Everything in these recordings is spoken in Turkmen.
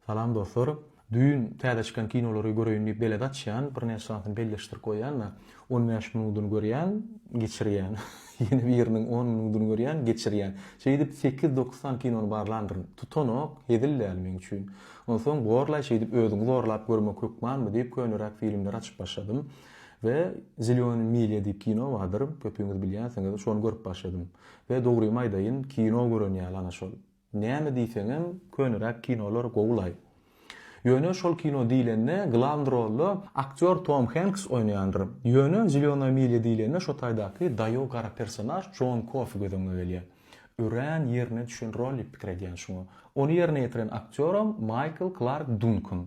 Salam dostlar. Düýn täze çykan kinolary göreýin diýip belet açýan, birnäçe sanysyny belleşdirip goýýan-da, on bäş minudyny görýän, geçirýän, ýene biriniň on minudyny görýän, geçirýän. Şeýdip sekiz-dokuz sany kinony barlandyryn. Tutanok, hezil däl meň üçin. Onsoň borlaý şeýdip özüňi zorlap görmek hökmanmy diýip könüräk filmleri açyp başladym we Zelýony milýa diýip kino bardyr, köpüňiz bilýänsiňiz, şony görüp başladym. We dogrymy aýdaýyn, kino gören ýaly ana şol. Näme diýseňem köneräk kinolar gowulaý. Ýöne şol kino diýlende glawny rolda aktýor Tom Henks oýnaýandyr. Ýöne Zelenoýa milýa diýlende şo taýdaky daýow gara personaž Jon Kofi göz öňüňe gelýär. Örän ýerine düşen rol diýip pikir edýän şuňa. Ony ýerine ýetiren aktýoram Maýkl Klark Dunkan.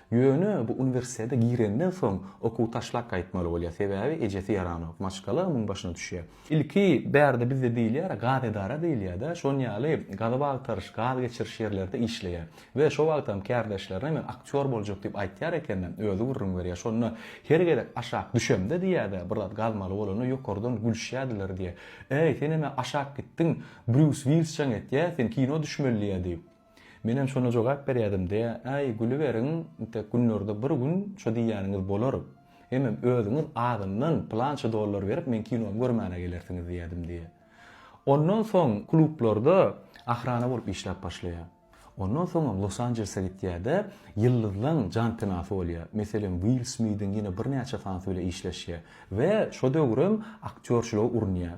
Ýöne bu uniwersitete girenden soň okuwy taşlap gaýtmaly bolýar, sebäbi ejesi ýaranok, maşgala onuň başyna düşýär. Ilki bärde bizde diýilýär, gaz edara diýilýär-de, şonýaly gazyp agtaryş, gaz geçiriş ýerlerde işleýär we şo wagtam kärdeşlerine men aktýor boljak diýip aýtýar eken-de, özi gürrüň berýär. Şonda her gezek aşak düşemde diýýär-de, bir zat gazmaly bolanda ýokardan gülüşýärdiler diýýär. Äý, senem-ä aşak gitdiň, Brýus Wilsjaň etýär, sen kino düşmeli diýýär diýip. Menem şona jogap berýärdim, Dä, äý, gülüberiň, intek günlerde bir gün şo diýýäniňiz bolar. Hemem özüňiz azyndan pylança dollar berip meň kinomy görmäne gelersiňiz diýýärdim diýýär. Ondan soň klublarda ahrana bolup işläp başlaýar. Ondan soňam Los-Anjelese gitýär-de, ýyldyzlaň jantenasy bolýar. Meselem, Will Smidiň ýene birnäçe tansy bile işleşýär we şo döwürem aktýorçylyga urunýar.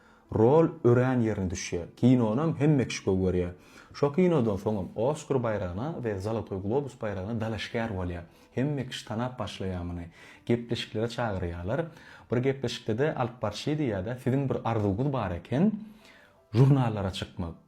Rol örän ýerine düşýär. Kinonam hemme kişi gowy görýär. Şo kinodan soňam Oskar baýragyna we Zolotoý globus baýragyna dalaşgär bolýar. Hemme kişi tanap başlaýar muny. Gepleşiklere çagyrýarlar. Bir gepleşikde-de alyp barşydy ýa-da siziň bir arzuwyňyz bar eken, žurnallara çykmak.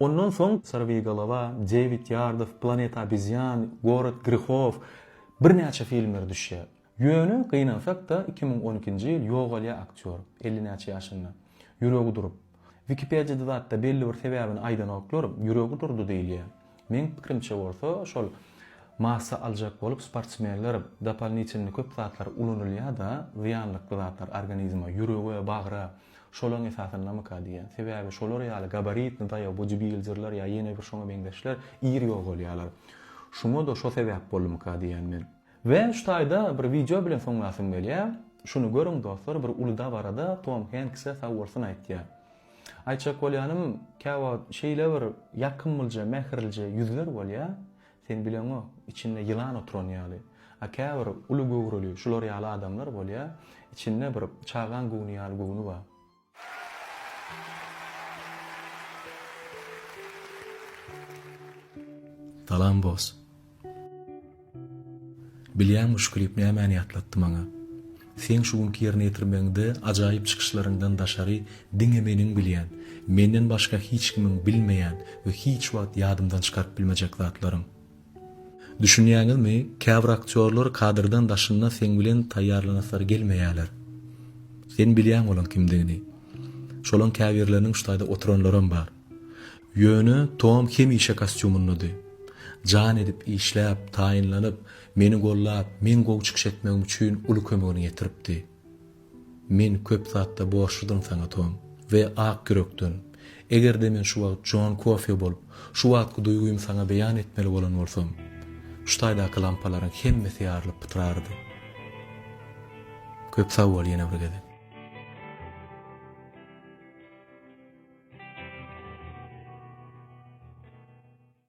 Ondan soň Sorwigolova, Dewid Ýardow, Planeta obezýan, Gorod grihow birnäçe filmler düşýär. Ýöne, gynansak-da, iki müň on ikinji ýyl ýogalýar aktýor, elli näçe ýaşynda. Ýüregi durup. Wikipediýada zatda belli bir sebäbini aýdanoklar, ýüregi durdy diýilýär. Meň pikirimçe bolsa, şol massa aljak bolup sportsmenler dopalnitelny köp zatlar ulanylýar-da, zyýanlykly zatlar organizme, ýürege, bagra. Şolaň esasyndamyka diýýän. Sebäbi şolar ýaly gabaritni daýaw bu jibiljirler ýa ýene bir şoňa meňzeşler ir ýogalýarlar. Şuňa-da şo sebäp boldumyka diýýän men. We şu taýda bir wideo bilen soňlasym gelýär. Şuny görüň dostlar, bir uly dabarada Tom Henkse sag bolsun aýtýar. Aýtjak bolýanym, käwagt şeýle bir ýakymlja, mähirlije ýüzler bolýar. Sen bileňok, içinde ýylan oturan ýaly. A käbir uly göwreli şular ýaly adamlar bolýar, içinde bir çagaň göwni ýaly göwni bar. Salam boss. Bilýäňmi şu klip nämäni ýatlatdy maňa? Seň şu günki ýerine ýetirmegiňde ajaýyp çykyşlaryňdan daşary diňe meniň bilýän, menden başga hiç kimiň bilmeýän we hiç wagt ýadymdan çykaryp bilmejek zatlaryň. Düşünýäňizmi, käbir aktýorlar kadrdan daşynda seň bilen taýýarlanasylary gelmeýärler. Sen bilýäň olaň kimdigini. Şolaň käbirleriniň şu taýda oturanlaram bar. Ýöne Tom hemişe kostýumyndady. Jan edip işläp, taýynlanyp, Meni gollap, meň gowy çykyş etmegim üçin uly kömegini ýetiripdi. Men köp zatda borçludyryn saňa Tom. We ak ýürekden. Eger-de men şu wagt Jon Kofio bolup, şu wagtky duýgymy saňa beýan etmeli bolan bolsam, şu taýdaky lampalaryň hemmesi ýarylyp pytrardy. Köp sag bol ýene bir gezek.